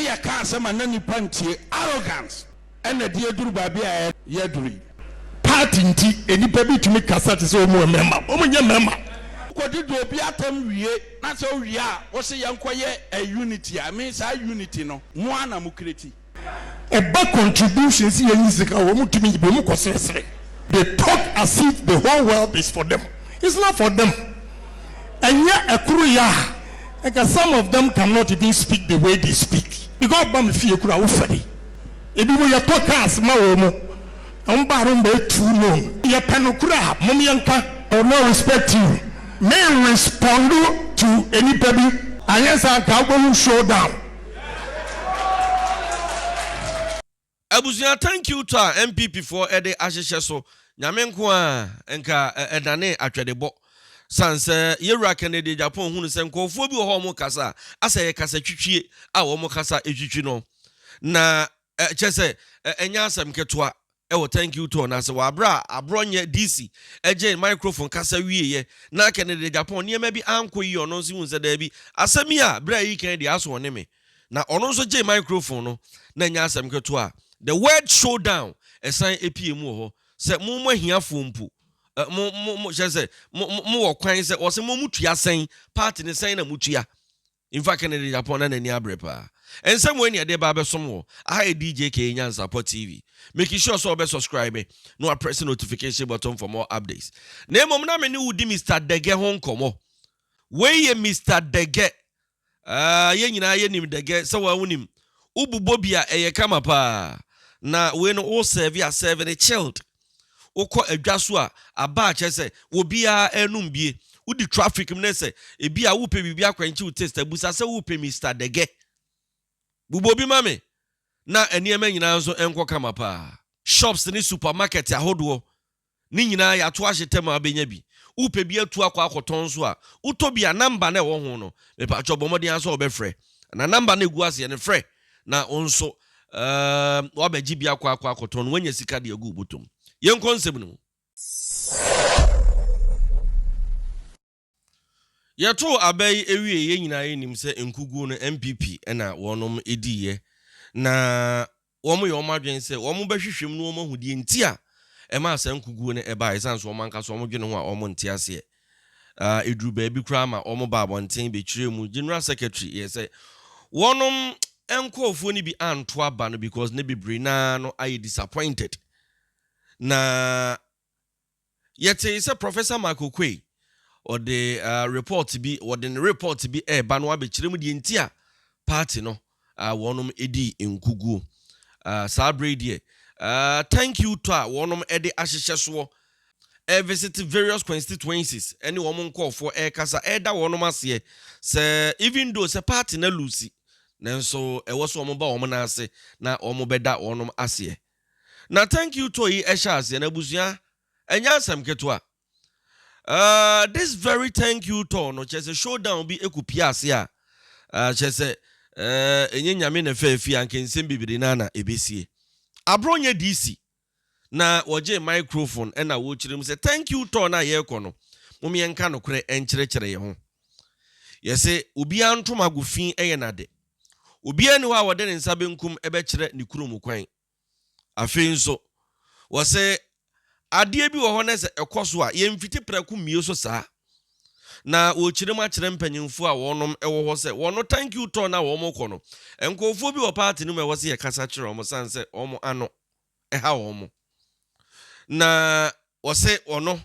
yɛ ka asɛm a na nipa ntie, arrogance, ɛna ɛde aduru baabi a yɛaduru yi. Part nti nnipa bi tumi kasa te sɛ wɔn yɛ mmarima, wɔn nyɛ mmarima. Wokɔdi do obi atɛm wie na sɛ owie a wose yɛnkɔ yɛ a unity a, me saa unity no mo ara na mo create. Ɛba contribution sɛ yɛnyi sika a wɔn tumi yi bi, wɔn kɔ seresere, they talk as if the whole world is for them, it's not for them. ɛnyɛ ɛkoro yɛ a nka some of them can not even speak the way they speak because ɔba me fie kura wo fɛre ebi mo yɛ tɔ cars ma wɔn mo wɔn baaro mba etu no yɛ pɛ no kura mom yɛ nka I will not respect you me respond to enipa bi. Anyɛ saa nka wobɛhu showdown. Abusua thank you tɔ a NPP foɔ ɛde ahyehyɛ so Nyame nko aa nka ɛdanee atwɛdebɔ San sɛ yɛwura Kennedy Agyapong hunu sɛ nkɔɔfoɔ bi wɔ hɔ a wɔn kasa a asɛ yɛ kasa twitwie a wɔn kasa ɛtwitwi no na kyɛ sɛ ɛnyɛ asɛm ketewa ɛwɔ thank you tɔ no ase wɔ aberɛ a aborɔ nyɛ DC ɛgyee microphone kasa wieɛ na Kennedy Agyapong nneɛma bi ankɔ yie ɔno nso hunu sɛ daabi asɛm yi a berɛ a ɛyi kan deɛ aso ɔne me na ɔno nso gyee microphone no na ɛnyɛ asɛm ketewa a the word showdown ɛsan epie mu wɔ hɔ sɛ mo mo ahiafoɔ mpo ɛ mo mo mo hyɛ sɛ mo mo mo wɔ kwan sɛ wɔsɛ mo mo tua sɛn party ne sɛn na mo tua nfa Kennedy Japon na n'ani abere paa nsɛm wɔ ɛni ɛde ba abɛsom wɔ aha yɛ DJ K Nyansapɔ TV make sure sɛ ɔbɛ subscribe me na wapress notification button for more updates na mmom na me ne wo di Mr Dege ho nkɔmɔ wei yɛ Mr Dege Aah yɛn nyinaa yɛ nim dɛgɛ sɛ waa wo nim wo bu bɔ bi a ɛyɛ kama paa na wei no wo serve a serve no chilled wo kɔ adwa so a aba a kyerɛ sɛ wɔ bi a ɛnum bie wo di traffic mu ne sɛ ebi a wo pɛ biribi akwankyɛ wo taste abusa sɛ wo pɛ Mister dɛgɛ bu bɔ bi ma me na nneɛma nyinaa nso nkɔ kama paa shops ne supermarket ahodoɔ Ne nyinaa yɛ ato ahyetɛ ma abɛnya bi. Wopɛ bi atu akɔ akɔtɔn nso a, wotɔ bi a, namba no a ɛwɔ ho no, mepakyɛw bɔ mmɔden ara sɛ wobɛfrɛ. Anaa namba no a ɛgu aseɛ no, frɛ na wo nso ɛɛm, woabɛgye bi akɔ akɔ akɔtɔn na woanya sika de agu wo bɔtɔ mu. Yɛnkɔ nsɛm no mu. Yɛtoo aba yi wiee yɛn nyinaa yɛnim sɛ nkuguo no NPP na wɔnom diiɛ na wɔn yɛ wɔn adwene sɛ wɔn bɛhwehwɛ mu na wɔn ahu deɛ nti a ɛmaa saa nkuguo no baeɛ ɛsiane sɛ wɔn ankasa wɔn dwene ho a wɔn nte aseɛ ah, ɛduru baabi koraa ma wɔn baa abɔnten bɛkyerɛ mu General Secretary yɛ sɛ wɔnom nkurɔfoɔ no bi anto aba no because ne bebree naa no ayɛ disappointed na Yɛtee sɛ Professor Mark Okoye, ɔde report bi, wɔde ne report bi ɛreba no abɛkyerɛ mu deɛ nti a party no wɔnom dii nkuguo. Saa berɛ yi deɛ, thank you tour a wɔnom de ahyehyɛ soɔ, ɛrevisit various constituencies ɛne wɔn nkɔɔfoɔ ɛrekasa, ɛreda wɔnom aseɛ sɛ even though sɛ party no alusi, nanso ɛwɔ sɛ wɔn ba wɔn nan ase na wɔn bɛda wɔnom aseɛ. na thank you tour yi ɛhyɛ aseɛ na abusua ɛnyɛ asɛm ketewa uh, this very thank you tour no kyerɛ sɛ showdown bi ɛkɔ pie ase a uh, kyerɛ sɛ uh, ɛnyɛ nyame na ɛfɛ afi anka nsɛm bebree na na ɛbɛsie aborɔ nyɛ DC na wɔgye microphone ɛna wɔkyerɛ mu sɛ thank you tour no a yɛrekɔ no mom yɛnka nokorɛ ɛnkyerɛkyerɛ yɛ ho yɛsɛ obiara ntom ago fi ɛyɛ nade Obiara nni hɔ a ɔde ne nsa benkum bɛkyerɛ ne kunu mu kwan. Afei nso, wɔse adeɛ bi wɔ hɔ na sɛ ɛkɔ so a, yɛmfiti prɛko mmue so saa. Na wɔrekyerɛ mu akyerɛ mpanyimfoɔ a wɔnom wɔ hɔ sɛ wɔno thank you tour no a wɔrekɔ no, nkurɔfoɔ bi wɔ party no mu a ɛwɔ sɛ yɛkasa kyerɛ wɔn sane sɛ wɔn ano ha wɔn. Na wɔse wɔno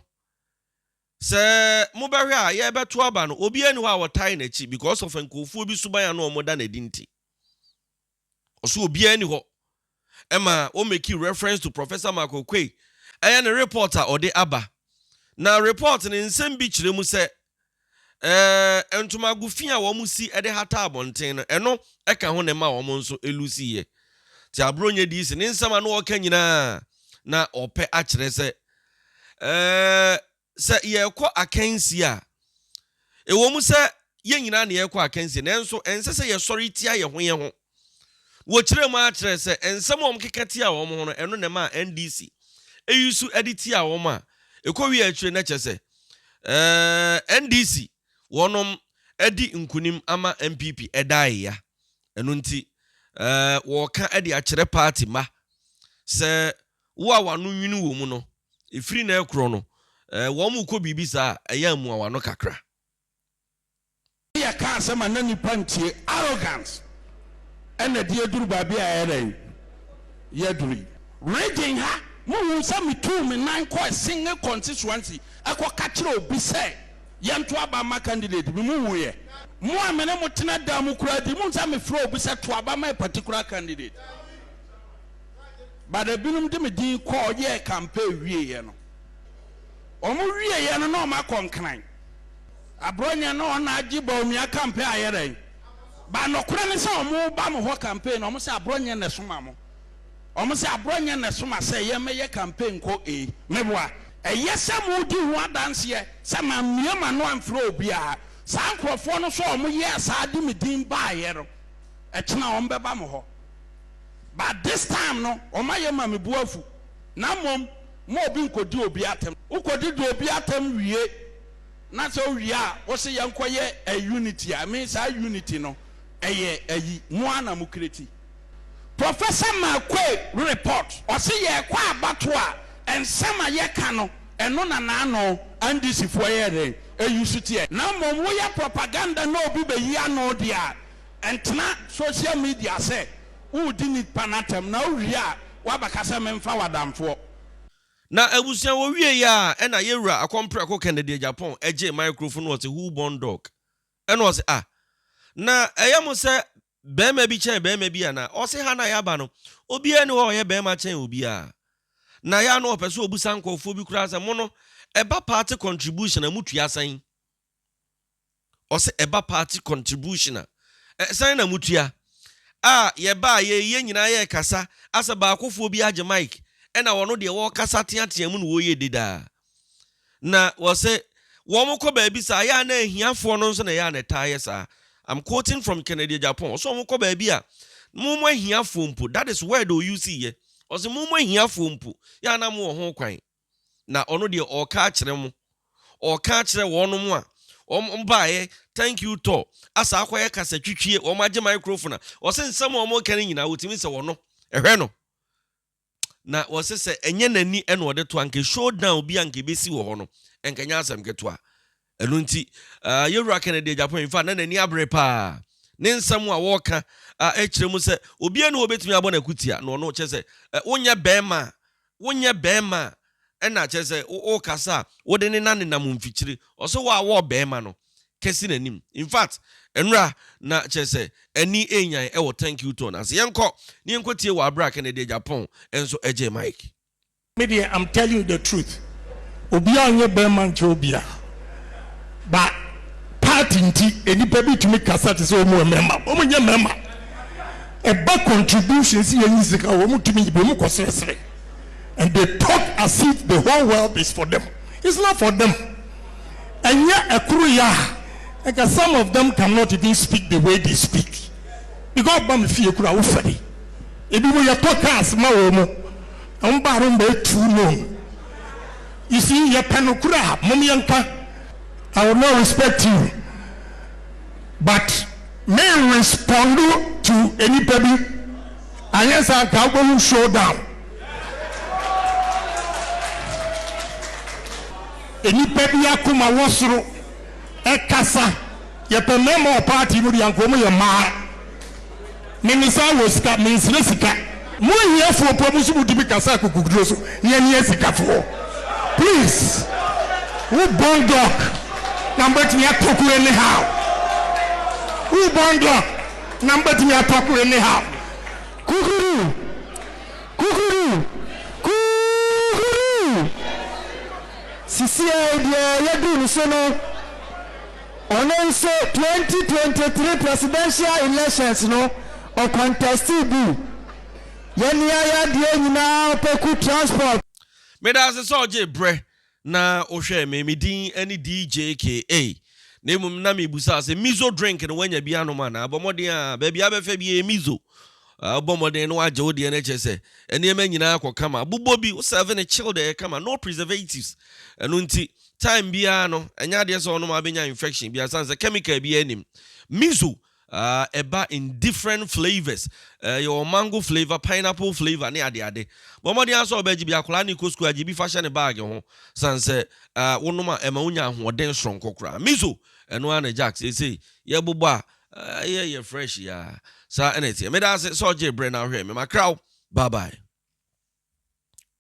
Sɛ mo bɛhwɛ a yɛ bɛto aba no obiaa ni hɔ a ɔtae nakyi because of nkorɔfoɔ bi suban a na ɔmo da no adi nti. Ɔse obiaa ni hɔ. Ɛma wɔ meki reference to Professor Mark Oquaye ɛyɛ ne report a ɔde aba. Na report no nsɛm bi kyerɛ mu sɛ ɛɛ ntomago fi a ɔmo si de hata abɔnten no ɛno ɛka ho na ɛma ɔmo nso ɛlusi yɛ. Nti Abronyɛ DC ne nsɛm a na ɔɔka nyinaa na ɔɔpɛ akyerɛ sɛ Ɛɛ, sɛ yɛrekɔ akansie a, ɛwom sɛ yɛn nyinaa na yɛrekɔ akansie, nanso ɛnsɛ sɛ yɛsɔre tia yɛn ho yɛn ho. Wɔkyerɛɛ mu ara kyerɛɛ sɛ nsɛm a wɔkeka tiaa wɔn ho no, ɛno na ɛmaa NDC yi su de tiaa wɔn a ɛkɔwiee akyire no kyerɛ sɛ, ɛɛ, NDC wɔnom adi nkunim ama NPP ɛdaeɛ ya. Ɛno nti, ɛɛ, wɔreka de akyerɛ party mma sɛ Wo a w'ano nwini wɔ mu no, ɛfiri na ɛkorɔ no, eh, wɔn mu kɔ biribi saa a, ɛyɛ a mua w'ano kakra. Yɛka asɛm a na nnipa ntie, arrogance, ɛna de aduru baabi a yɛayɛ dɛn? Yɛaduru yi. Region ha, mohuu sɛ metuu me nan kɔɔ Singh constituency kɔka kyerɛɛ obi sɛ yɛnto aba mma candidate bi? Mohuuiɛ? Mo a me ne mo tena dan mu koraa di, mohu sɛ mefrɛɛ obi sɛ to aba ma a particular candidate? but ebinom de me din kɔɔ yɛɛ campaign wieɛ no wɔn wieɛ no na wɔn akɔ nkran aborɔ nyɛ na wɔn agye Bawumia campaign ayɛ dɛn ba nɔkorɛ ne sɛ wɔn ba mo hɔ campaign na wɔn sɛ aborɔ nyɛ na ɛsoma mo wɔn sɛ aborɔ nyɛ na ɛsoma sɛ yɛn mɛyɛ campaign kɔ ee meboa ɛyɛ sɛ mo di ho adanseɛ sɛ ma mmea ma no amfrɛ obiara saa nkorɔfoɔ no sɛ wɔn yɛ saa de me din baayɛ no ɛkyena wɔn bɛba mo hɔ. but this time no ɔma yɛ ma me bo afu na mmom ma obi nkɔdi obi atɛm wokɔdi di obi atɛm wie na sɛ wowie a wose yɛnkɔ yɛ a unity a me saa unity no ɛyɛ ayi mo ara na mo kreti. Professor Marquay report ɔse yɛkɔ abatoɔ a nsɛm a yɛ ka no ɛno na naano NDC foɔ yɛ dɛn ɛyi so teɛ. Na mmom woyɛ propaganda na obi bɛyi ano deɛ a Ɛntena social media sɛ woredi nnipa no atɛm na wowie a woabɛka sɛ memfa wo adamfoɔ. Na abusua wɔwiei a ɛna yɛwura Akɔmprɛko Kennedy Agyapong ɛgyee microphone na ɔse who born dog? Ɛna ɔse ah na ɛyɛ mo sɛ bɛɛma bi kyɛn bɛɛma bi anaa? Ɔse ha na yɛaba no obiaa ni hɔ a ɔyɛ bɛɛma kyɛn obiaa na yɛ a na ɔpɛ sɛ ɔbusa nkorɔfoɔ bi koraa sɛ mo no ɛba party contribution a motua sɛn? Ɔsɛ ɛba party contribution a ɛsan na motua a yɛbaa yɛ yi yɛ nyinaa yɛ kasa asɛ baakofoɔ bi agye mic ɛna ɔno deɛ ɔɔkasa teatea mu na ɔɔyɛ dede a na ɔsɛ wɔn kɔ baabi saa yɛ a na ahiafoɔ no nso na yɛ a na ɛtaa yɛ saa I'm quoting from Kennedy Agyapong ɔsɛ wɔn kɔ baabi a mo mo ahiafoɔ mpo that is word ɔuse yɛ ɔsɛ mo mo ahiafoɔ mpo yɛ a na mo wɔ ho kwan na ɔno deɛ ɔɔka akyerɛ mo, ɔɔka akyerɛ wɔnom a wɔn baeɛ, thank you tour, asaa akɔyɛ kasa twitwie, wɔn agye microphone a, wɔse nsɛm a wɔn reka no nyinaa wɔtumi sɛ wɔno, ɛhwɛ no, na wɔse sɛ ɛnyɛ n'ani ɛna ɔde to a, anka show down bi a anka ɛbɛsi wɔ hɔ no, ɛnka ɛnyɛ asɛm ketewa. Ɛno nti, yɛn Wura Kennedy Agyapong in fact na n'ani abere paa. Ne nsɛm a wɔka kyerɛ mu sɛ obiara ni hɔ obetumi abɔ no akutia na ɔno kyerɛ sɛ wonyɛ bɛrima a wonyɛ bɛrima a ɛna kyerɛ sɛ wokasa a wode ne nan nenam mfikyiri ɔsɛ wo a wɔɔ bɛrima no kɛse n'anim in fact ɛnora na kyerɛ sɛ ani enyan ɛwɔ thank you tone ase yɛnkɔ ne yɛnkɔtie wɔ abere a Kennedy Agyapong nso ɛgye Mike Me deɛ am tell you the truth obiaa nyɛ bɛɛma nkyɛ obiaa ba part nti nnipa bi tumi kasa te sɛ ɔmu ɛmɛɛma ɔmu nyɛ mɛɛma ɛba contribution si yɛ nyi sika ɔmu tumi yibi ɔmu kɔ sresre and they talk as if the whole world is for them it's not for them ɛnyɛ ɛkoro yɛ a ɛka some of them cannot even speak the way they speak because ɔba me fie kura wo fɛde ebi mo yɛ tɔ cars ma ɔmu Ɔmo baa no mma too known you see yɛpɛ nokore a mom yɛnka I will not respect you but me respond to enipa bi anyɛ saa nka wobɛhu show down enipa bi akoma wɔ soro ɛkasa yɛpɛ mɛma wɔ party mu deɛ anka ɔmo yɛ mmaa. Me no saa wɔ sika, me nsrɛ sika. Mo ahiafoɔ mpo mo nso mo tumi kasa akokoduro so ne ani asikafoɔ please wo bɔn dɔk na mo bɛtumi atɔ koro any how wo bɔn dɔk na mo bɛtumi atɔ koro any how kukudu kukudu kukudu sisi a obiara yɛ duru ne so no. Ɔno nso twenty twenty three presidential elections no ɔkɔntɛstee bi. Yɛne ayadeɛ nyinaa ɔpɛku transport. Meda ase sɛ ɔgyee berɛ na wohwɛɛ me. Me din ne DJ KA. Na mmom na merebisa sɛ Mizo drink no woanya bi anom anaa? Bɔ mmɔden a baabi a wobɛfa biara Mizo. Wobɔ mmɔden na woagye wo deɛ no ɛkyerɛ sɛ nneɛma nyinaa kɔ kama. Bobɔ bi, wo serve no chilled ɛyɛ kama, no preservatives. Ɛno nti time biara no ɛnyɛ adeɛ sɛ ɔnom a wobɛnya infection biara sane sɛ chemical biara nim miso uh, ɛba in different flavours uh, yɛwɔ mango flavour pineapple flavour ne adeade bɔmmɔden asɛ ɔbɛgye bi akoraa ne kɔ sukuu agye bi fa hyɛ ne baage ho sane sɛ uh, wonom a ɛma wonya ahoɔden soronko koraa miso ɛno ara na jack seesei yɛbobɔ a uh, yɛ yɛ fresh ya saa ɛna ɛteɛ meda ase sɛ ɔgye berɛ na ahwɛ me makraw bye bye